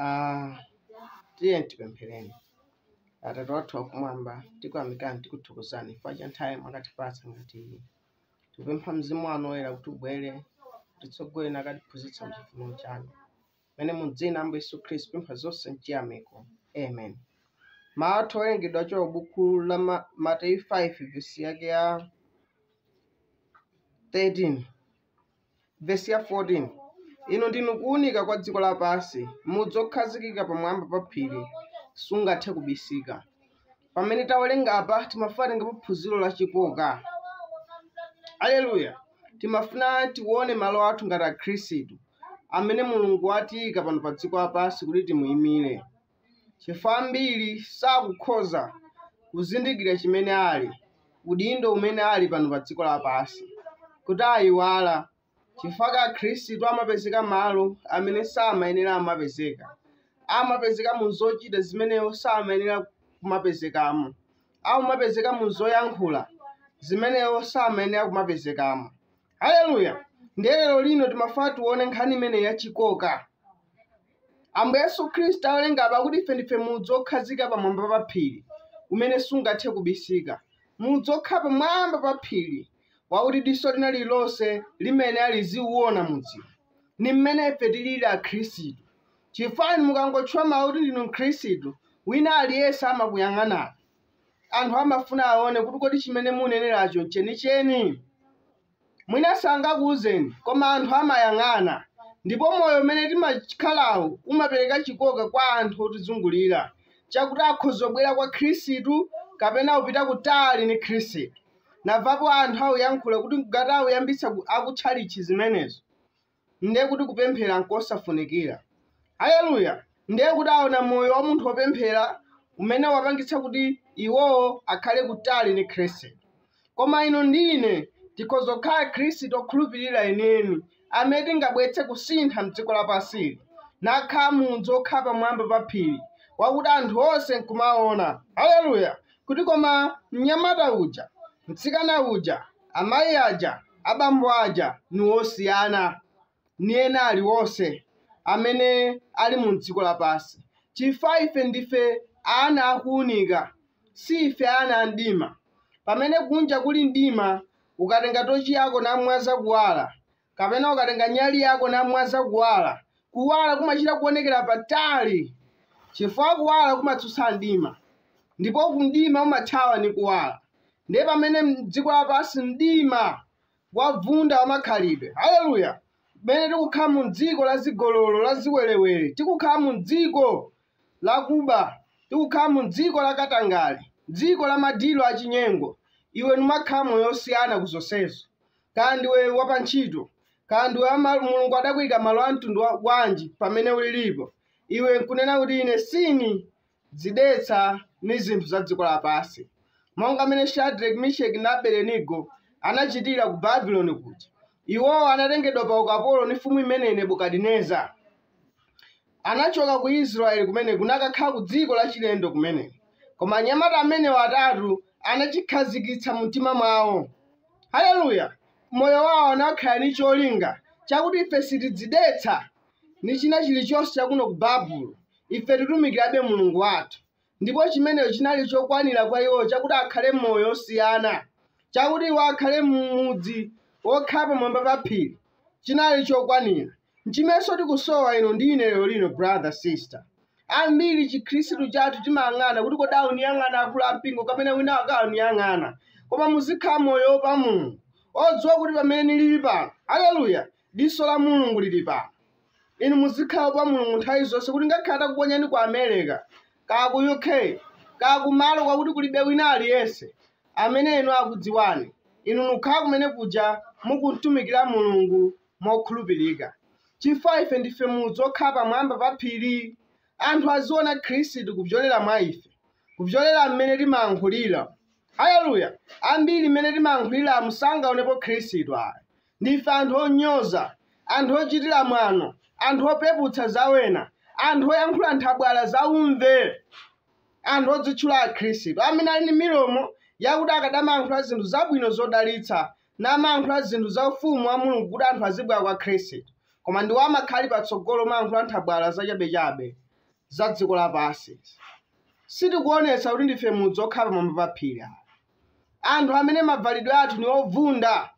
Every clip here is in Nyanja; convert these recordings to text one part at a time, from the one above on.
Ah, tiye tipemphereni atate wathu wakumwamba tikuyamikani tikuthokozani chifukwa cha nthawi mwakatipatsa ngati iyi tikupempha mzimu wanu woyera kuti ubwere kutitsogolera nakatiphunzitsa mchifuniro chanu mmene mu dzina ambuye yesu khristu tapempha zonse mchiyamiko amen mawu athu owerengedwa kuchokera buku la Ma- mateyu 5 vesi yake ya 13 Vesi ya 14 inu ndinu kuwunika kwa dziko lapansi mudzi okhazikika pamwamba pa phiri sungathe kubisika pamene tawerenga apa timafuna titengepo phunziro la chikoka aleluya timafuna tione malo athu ngati akhristu amene mulungu watiyika pano pa dziko lapansi kuti timuyimire chifukwa ambiri sakukhoza kuzindikira chimene ali, udindo umene ali pano pa dziko lapansi, kuti ayiwala chifukwa chake Akhristu amapezeka malo amene samayenera kumapezeka, amapezeka mu zochita zimene iwo samayenera kumapezekamo, amapezeka mu zoyankhula zimene iwo samayenera kumapezekamo. haleluya ndiye lero lino timafuna tione nkhani imene yachikoka ambuye yesu khristu tawerenga apa kuti ife ndife mudzi okhazika pamwamba pa phiri umene sungathe kubisika mudzi okhala pamwamba pa phiri wakuti diso lina lililonse limene liziwuona mudziwo ni mmene ife tilili akhristu chifukwa mukangotchula mawu kuti ndinu mkhristu wina aliyense amakuyang'anani anthu amafuna aone kuti kodi chimene mukunenacho nchenicheni. Mwina sangakuuzeni, koma anthu amayang'ana. Ndipo moyo umene timakhalawu umapereka chikoka kwa anthu otizungulira chakuti akhoza kubwera kwa Khristu kapena kupita kutali ndi Khristu. Ndamvapo anthu akuyankhula kuti ngati akuyambitsa ku- akutchalitchi zimenezo. ndiye kuti kupemphera nkosafunikira. Aleluya! Ndiye kuti aona moyo wa munthu wopemphera umene wapangitsa kuti iwowo akhale kutali ndi Khristu. Koma inu ndi ine tikhoza kukhala Akhristu okhulupirira enieni amene tingabweretse kusintha m'dziko lapansili, nakhala mudzi wokhala pamwamba pa phiri, wakuti anthu onse nkumaona, aleluya, kuti koma mnyamata uja, mtsikana uja, amayi aja, abambo aja ni osiyana ni ena aliwonse amene ali mu dziko lapansi, chifukwa ife ndife ana a kuunika, si ife ana a mdima. Pamene kunja kuli mdima, ukatenga tochi yako namwaza kuwala, kapena ukatenga nyali yako n'kumwaza kuwala kuwala kumachita kuonekera patali chifukwa kuwala kumatsutsa mdima ndipo kumdima umathawa ni kuwala ndiye pamene mdziko lapansi mdima wavunda wamakhalidwe haleluya pamene tikukhala mu dziko la chigololo la ziwerewere tikukhala mu dziko lakuba tikukhala mu dziko la katangale dziko la madilo achinyengo iwe numakhala moyo osiyana ku zonsezo Kaya ndiwe wapantchito, kaya ndiwe wa ma- Mulungu adakuika malo a mtundu wa- wanji pamene ulilipo, iwe nkunena kuti ine sini dzidetsa ndi zinthu za dziko lapansi, monga amene Shadrach, Meshach ndi Abednego anachitira ku Babuloni kuja. Iwowo anatengedwa pa ukapolo ndi mfumu imene Nebukadineza. anachoka ku Israeli kumene kunakakhala ku dziko lachilendo kumeneko. Koma anyamata amenewa atatu anachikhazikitsa mu mtima mwawo. Haleluya! Moyo wawo anaukhala ni cholinga chakuti ife sitidzidetsa ni china chilichonse chakuno ku Babulo. Ife titumikirabe Mulungu wathu. Ndipo chimenecho chinali chokwanira kwa iwo chakuti akhale moyo osiyana, chakuti iwo akhale m'mudzi wokhala pamwamba pa phiri. Chinali chokwanira. Nchimenso tikusowa inu ndi ine lero lino, brother, sister. Ambiri Chikhristu chathu timayang'ana kuti kodi auniyang'ana akulu ampingo kapena winawake auniyang'ana. Koma muzikhala moyo woopa Mulungu, odziwa kuti pamene nilili pano, haleluya, diso la mulungu lili pano inu muzikhala oopa mulungu nthawi zonse kuti ngakhale atakuponyani ku america kaya ku uk kaya kumalo kwakuti kulibe wina aliyense amene inu akudziwani inu nukhala kumene kuja mukumtumikira mulungu mokhulupirika chifukwa ife ndife mudzi okhala pamwamba pa phiri anthu aziona khristu kupyolera mwa ife kupyolera mmene timayankhulira haleluya ambiri mmene timayankhuliramo sangaonepo khristu ayi Ndife anthu onyoza, anthu ochitira mwano, anthu opeputsa za wena, anthu oyankhula nthabwala za umve, anthu odzitchula Akhristu, amene ali ndi milomo yakuti akadamayankhula zinthu zabwino zodalitsa, namayankhula zinthu za ufumu wa Mulungu kuti anthu azibwera kwa Khristu, koma ndiwo amakhala ali patsogolo omayankhula nthabwala zachabechabe za dziko lapansi. Sitikuonetsa kuti ndife mudzi okhala pamwamba pa phiri ayi. Anthu amene mavalidwe athu ni ovunda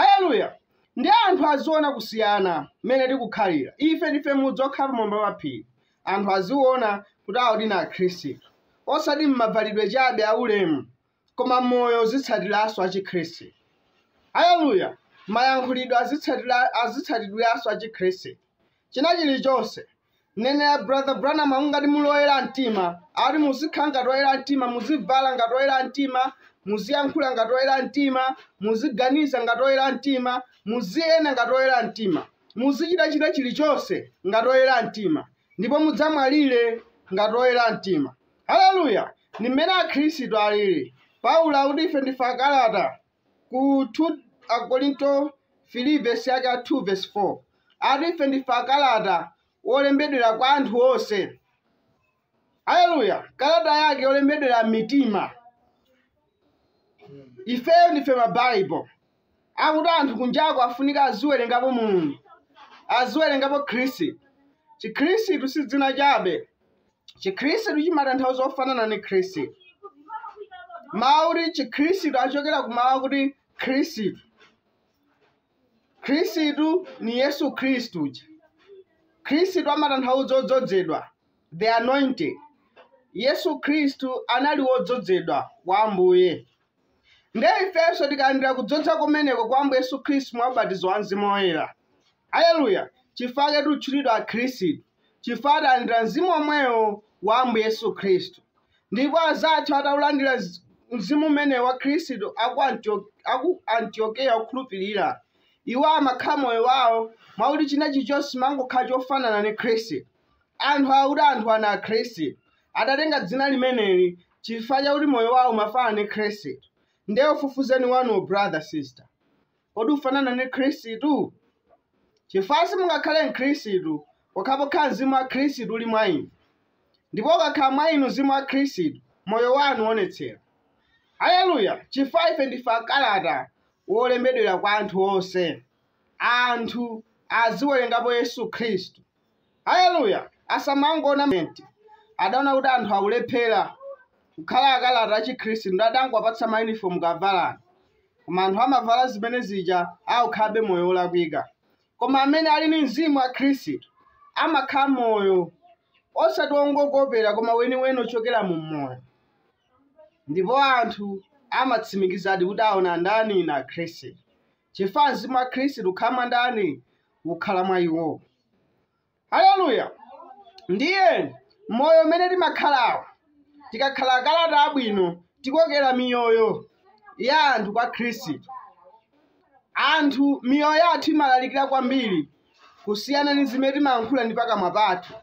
Aleluya! Ndi anthu aziona kusiyana mmene tikukhalira. Ife ndife mudzi wokhala pamwamba pa phiri. Anthu aziona kuti awo ndi Akhristu, osati m'mavalidwe chabe aulemu, koma moyo uzitsatiranso achikhristu. Aleluya! Mayankhulidwe azitsatira azitsatidwiranso achikhristu. China chilichonse mneneri brother branham akuti ngati muli oyera mtima ati muzikhala ngati oyera mtima muzivala ngati oyera mtima muziyankhula ngati oyera mtima muziganiza ngati oyera mtima muziyenda ngati oyera mtima muzichitachita chilichonse ngati oyera mtima ndipo mudzamwalire ngati oyera mtima haleluya ndi mmene akhristu alili paulo akuti ife ndife akalata ku 2 Akorinto 3 vesi yake ya 2 ndi 4 ati ife ndife akalata olembedwera kwa anthu onse haleluya kalata yake yolembedwera m'mitima ife ndife mabaibulo akuti anthu kunjako afunika aziwerengapo mulungu aziwerengapo khristu chikhristu si dzina chabe chikhristu chimatanthauza ofanana ndi khristu mawu akuti chikhristu achokera ku mawu akuti khristu khristu ni yesu khristu uja khristu amatanthauza odzodzedwa the anointed yesu khristu anali wodzodzedwa kwa ambuye nde ifenso tikalandira kudzodza kumeneko kwa ambuye yesu khristu mwa ubatizo wa mzimu woyera aleluya chifukwa chake titchulidwa akhristu chifukwa talandira Mzimu womwewo wa Ambuye Yesu Khristu. Ndipo azathu ataulandira zi- Mzimu umenewo wa Khristu aku Antio- aku Antiokeya okhulupirira, iwo amakhala moyo wawo mwakuti china chilichonse chimangokhala chofanana ndi Khristu. Anthu akuti anthu awa ndi Akhristu adatenga dzina limeneli chifukwa chakuti moyo wawo umafanana ndi Khristu. Nde ufufuzeni wanuwo brother sister. Kodi ufanana ndi Khristu? Chifukwa simungakhale Mkhristu pokhapokha mzimu wa Khristu uli mwa inu. Ndipo ukakhala mwa inu mzimu wa Khristu, moyo wanu uonetsera. Aleluya! Chifukwa ife ndife akalata wolembedwera kwa anthu onse. Anthu aziwerengapo Yesu Khristu. Haleluya! Asamangoona ment adaona kuti anthu akulephera kukhala akalata achikhristu nde adangowapatsa mauniform kavalani koma anthu amavala zimene zija akukhalabe moyo wolakwika koma amene ali ndi mzimu wa khristu amakhala moyo osati wongokopera koma weniweni ochokera mu moyo ndipo anthu amatsimikizadi kuti awa ndani ndi akhristu chifukwa mzimu wa khristu ukhala mwa ndani ukhala mwa iwo haleluya ndiye moyo umene timakhalawo tikakhala akalata abwino tikokera miyoyo ya anthu kwa khristu anthu miyoyo yathu imalalikira kwambiri kusiyana ndi zimene timayankhula ndi pakamwa pathu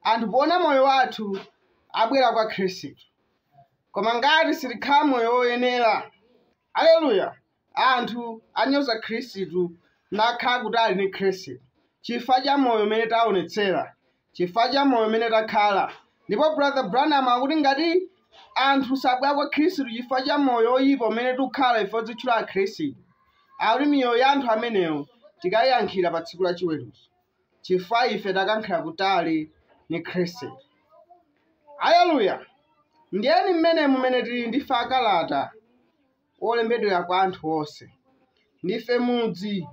anthu poona moyo wathu abwera kwa khristu koma ngati sitikhala moyo woyenera haleluya Anthu anyoza Khristu nakhala kutali ndi Khristu chifukwa cha moyo umene taonetsera, chifukwa cha moyo umene takhala. Ndipo Brother Branham akuti ngati anthu sabwera kwa Khristu chifukwa cha moyo oyipa umene tikukhala ife odzitchula Akhristu, akuti miyoyo ya anthu amenewo tikayiyankhira pa tsiku la chiweruzo chifukwa ife tawakankhira kutali ni Khristu. Haleluya! Ndiyeni mmene mumene tili ndife akalata wolembedwera kwa anthu onse. Ndife mudzi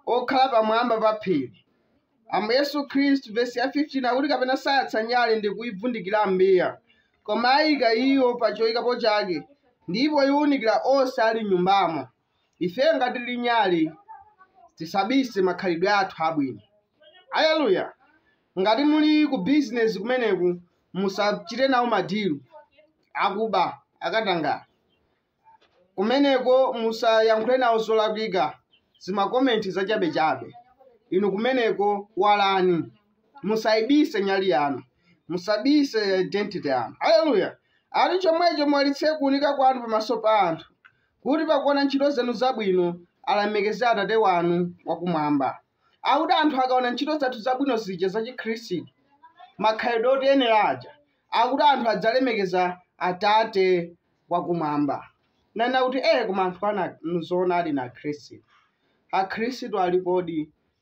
okhala pamwamba pa phiri. Ambuye Yesu Khristu, vesi ya 15 akuti kapena sayatsa nyale ndi kuivundikira m'mbiya, koma ayika iyo pa choyikapo chake, ndipo iwunikira onse ali m'nyumbamo. Ifeyo ngati tili nyale, tisabise makhalidwe athu abwino. Aleluya! ngati muli ku bizinesi kumeneko musachite nawo madilu akuba akatangale kumeneko musayankhule nawo zolakwika zimakomenti zachabechabe inu kumeneko walani musayibise nyale yanu musabise identity yanu haleluya akuti chomwecho muwalitse kuunika kwanu pamaso pa anthu kuti pakuona ntchito zanu zabwino alemekeze atate wanu wakumwamba akuti anthu akaona ntchito zathu zabwino zija zachikhristu makhalidwe otiyenera aja akuti anthu adzalemekeza atate wakumwamba nanena kuti ee koma anthu aja nzoona ali na khristu akhristu alikodi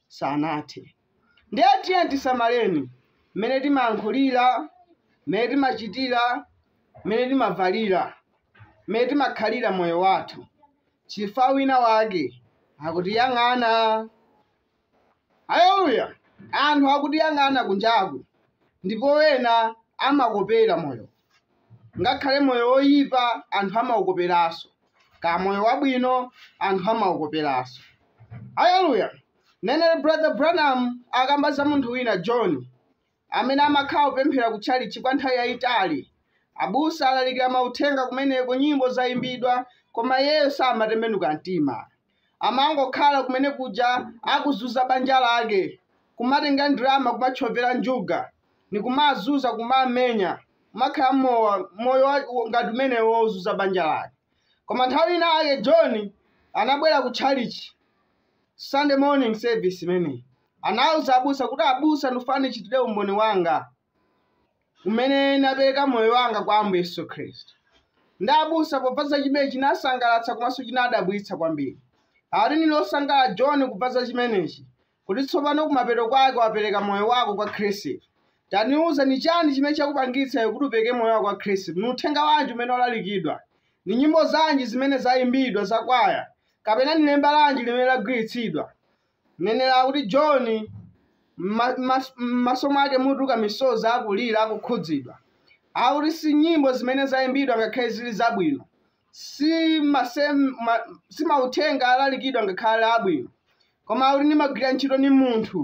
sanathe ndiye tiyeni tisamaleni mmene timayankhulira mmene timachitira mmene timavalira mmene timakhalira moyo wathu chifukwa winawake akutiyang'ana. Haleluya! Anthu akutiyang'ana kunjaku, ndipo ena amakopera moyo, ngakhale moyo woyipa anthu amaukoperanso, kaya moyo wabwino anthu amaukoperanso. Haleluya! Mneneri Brother Branham akamba za munthu wina John, amene amakhala kupemphera ku tchalitchi kwa nthawi yayitali. Abusa alalikira mauthenga kumeneko, nyimbo zayimbidwa, koma iyeyo samatembenuka mtima. Amangokhala kumene kuja akuzuza banja lake, kumatenga ndalama kumatchovera njuga, ndikumawazuza, kumawamenya, kumakhala m'mowa, moyo wa, ngati umenewo wozuza banja lake. Koma nthawi ina yake John anabwera ku tchalitchi Sunday morning service imeneyi. anauza abusa kuti abusa ndikufuna ndichitire umboni wanga umene napereka moyo wanga kwa ambuye yesu khristu ndi abusa pakumva za chimenechi chinasangalatsa komanso chinadabwitsa kwambiri ati nili osangalala john kumva za chimenechi kuti tsopano kumapeto kwake wapereka moyo wako kwa khristu taniuzani chani chimene chakupangitsa iwe kuti upereke moyo wako kwa khristu ni uthenga wanji umene walalikidwa ni nyimbo zanji zimene zayimbidwa zakwaya kapena ni lemba lanji limene lagwiritsidwa Ndiyeno akuti, John, mma, mma, mmaso mwake mutuluka misozi, akulira, akukhudzidwa. Akuti, Si nyimbo zimene zaimbidwa ngakhale ziri zabwino, si masem, ma, si mauthenga alalikidwa ngakhale ali abwino, koma akuti ndimagwira ntchito ndi munthu.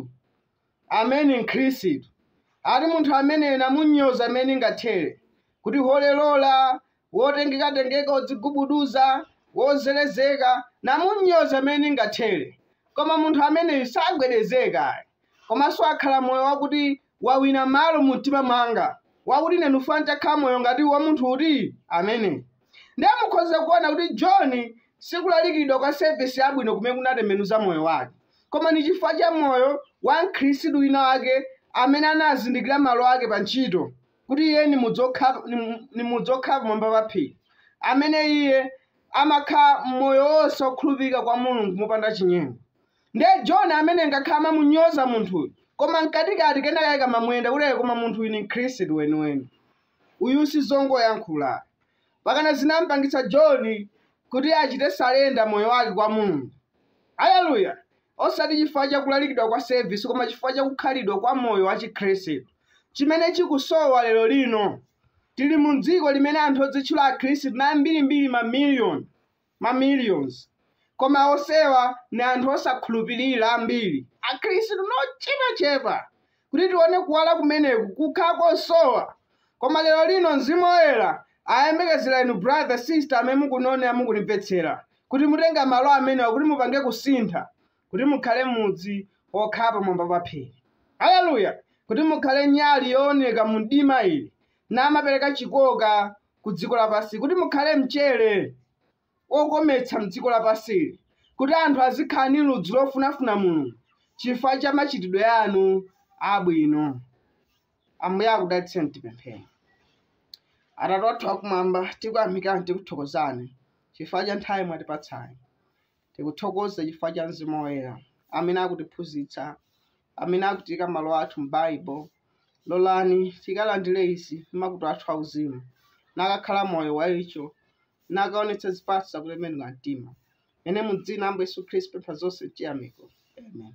Amene ni mkhristu ati munthu ameneyu nimamunyoza mmene ningathere kuti holy roller wotengeka tengeka odzigubuduza wozelezeka nimamunyoza mmene ningathere koma munthu ameneyu sagwedezeka ayi komanso akhala moyo wakuti wawina malo mumtima mwanga wakuti ine ndufuna nditakhala moyo ngati wamunthu uti ameneyu Ndiye mukhoza kuona kuti John si kulalikidwa kwa sevisi yabwino kumene kunatembenuza moyo wake, koma ni chifukwa cha moyo wa Mkhristu wina wake amene anazindikira malo ake pa ntchito, kuti iye ni mudzi wokha- ni mu- ni mudzi wokhala pamwamba pa phiri, amene iye amakhala moyo wonse wokhulupirika kwa Mulungu mopanda chinyengo. Ndiye John amene ngakhale amamunyoza munthuyu, koma mkatikati kenakake kamamuyenda kuti "Eh, koma munthuyu ni Mkhristu weniweni. Uyu si zongoyankhula. Mpakana zinamupangitsa John kuti achite surrender moyo wake kwa Mulungu. Aleluya! Osati chifukwa cha kulalikidwa kwa service, koma chifukwa cha kukhalidwa kwa moyo wa Chikhristu, chimene chikusowa lero lino. Tili mu dziko limene anthu odzitchula Akhristu ndi ambiri mbiri ma million. ma millions koma onsewa ni anthu osakhulupilira ambiri akhristu ni ochepa chepa kuti tione kuwala kumeneku kukhala kosowa koma lero lino mzimu oyera ayembekezera inu brother sister amene mukunionera mukunimvetsera kuti mutenga malo amenewa kuti mupange kusintha kuti mukhale mudzi okhala pamwamba pa phiri haleluya kuti mukhale nyali yooneka mu mdima ili namapereka chikoka ku dziko lapansili kuti mukhale mchere wokometsa mdziko lapansili kuti anthu azikhala ndi ludzu lofunafuna mulungu chifukwa cha machitidwe anu abwino ambuye akudalitseni tipemphere atate wathu akumwamba tikuyamikani tikuthokozani chifukwa cha nthawi mwatipatsayi Tikuthokoza chifukwa cha Mzimu Woyera amene akutiphunzitsa, amene akutiika malo athu m'Baibo. Lolani tikalandire izi m'makutu athu auzimu, n'kukakhala moyo wa icho, n'kukaonetsa zipatso za kutembenuka mtima. Ine mu dzina la Ambuye Yesu Khristu pempha zonse m'chiyamiko. Amen.